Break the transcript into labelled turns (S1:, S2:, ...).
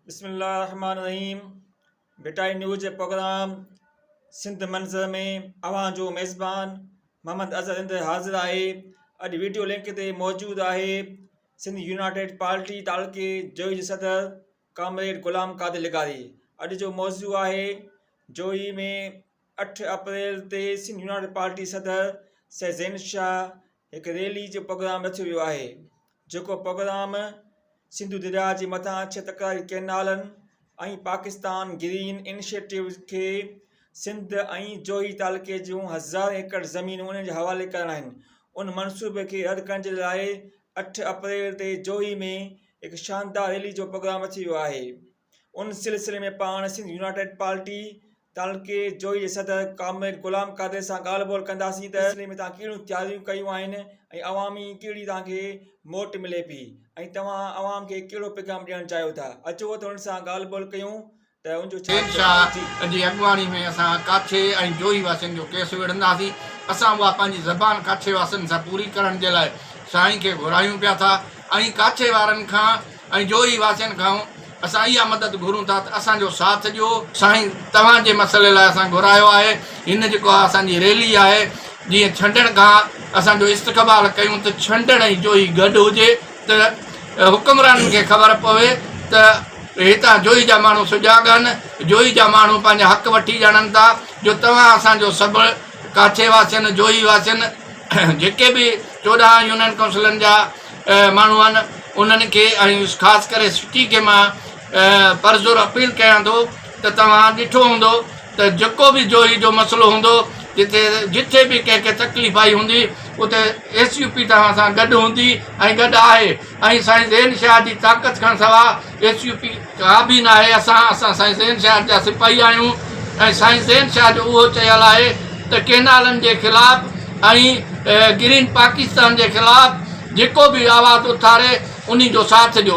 S1: بسم الله الرحمن الرحيم ڀٽائي نيوز جي پروگرام سنڌ منظر ۾ اوهان جو ميزبان محمد اظهر هند حاضر آهي اڄ ويڊيو لنڪ تي موجود آهي سنڌ يونائيٽيڊ پارٽي تعلقي جوئي جي صدر ڪامريڊ غلام قادر لغاري اڄ جو موضوع آهي جوئي ۾ اٺ اپريل تي سنڌ يونائيٽيڊ پارٽي صدر سيد زين شاهه هڪ ريلي جو پروگرام رکيو ويو آهي جيڪو پروگرام سنڌو درياهه جي مٿان ڇهه تڪراري ڪئنالن ۽ پاڪستان گرين انيشيٽو کي سنڌ ۽ جوهي تعلقي جون هزارين ايڪڙ زمينون انهن جي حوالي ڪرڻ آهن ان منصوبي کي رد ڪرڻ جي لاء اٺ اپريل تي جوهي ۾ هڪ شاندار ريلي جو پروگرام رکيو ويو آهي ان سلسلي ۾ پاڻ سنڌ يونائيٽيڊ پارٽي تعلقي جويي جي صدر ڪامريڊ غلام قادر سان ڳالهه ٻولهه ڪنداسين ته سلسلي ۾ توهان ڪهڙيون تياريون ڪيون آهن ۽ عوامي ڪهڙي توهان کي موٽ ملي پئي ۽ توهان عوام کي ڪهڙو پيغام ڏيڻ چاهيو ٿا اچو ته انهن سان ڳالهه ٻولهه ڪيون ته ان جو ڇا چئبو آهي جي. شاهه جي
S2: اڳواڻي ۾ اسان ڪاڇي ۽ جويي واسين جو ڪيس وڙهنداسين اسان اها پنهنجي زبان ڪاڇي واسين سان پوري ڪرڻ جي لاء سائين کي گهرايون پيا ٿا ۽ ڪاڇي وارن کان ۽ جو هي واسين کان اسان اها مدد گهرون ٿا ته اسان جو ساٿ ڏيو. سائين توهان جي مسئلي لاء اسان گهرايو آهي. هن جيڪو اها اسان جي ريلي آهي جيئن ڇنڊڻ کان اسان جو استقبال ڪيون ته ڇنڊڻ ۽ جوهي گڏ هجي ته حڪمرانن کي خبر پوي ته هتان جوهي جا ماڻهو سجاڳ آهن. جوهي جا ماڻهو پنهنجا حق وٺي ڄاڻن ٿا جو توهان اسان جو سڀ ڪاڇي واسين، جوهي واسين جيڪي به چوڏهن يونين ڪائونسلن جا، ماڻهو آهن انهن کي ۽ خاص ڪري سٽي کي مان پرزور اپيل ڪيان ٿو ته توهان ڏٺو هوندو ته جيڪو به جوهي جو مسئلو هوندو جتي جتي به ڪنهن کي تڪليف آئي هوندي اتي ايس يو پي توهان سان گڏ هوندي ۽ گڏ آهي ۽ سائين زين شاهه جي طاقت کان سوا ايڇ يو پي ڪا به ناهي اسان اسان سائين زين شاهه جا سپاهي آهيون ۽ سائين زين شاهه جو اهو چيل آهي ته ڪينالن جي خلاف ۽ گرين پاڪستان جي خلاف جيڪو به آواز اٿاري انهي جو ساٿ ڏيو.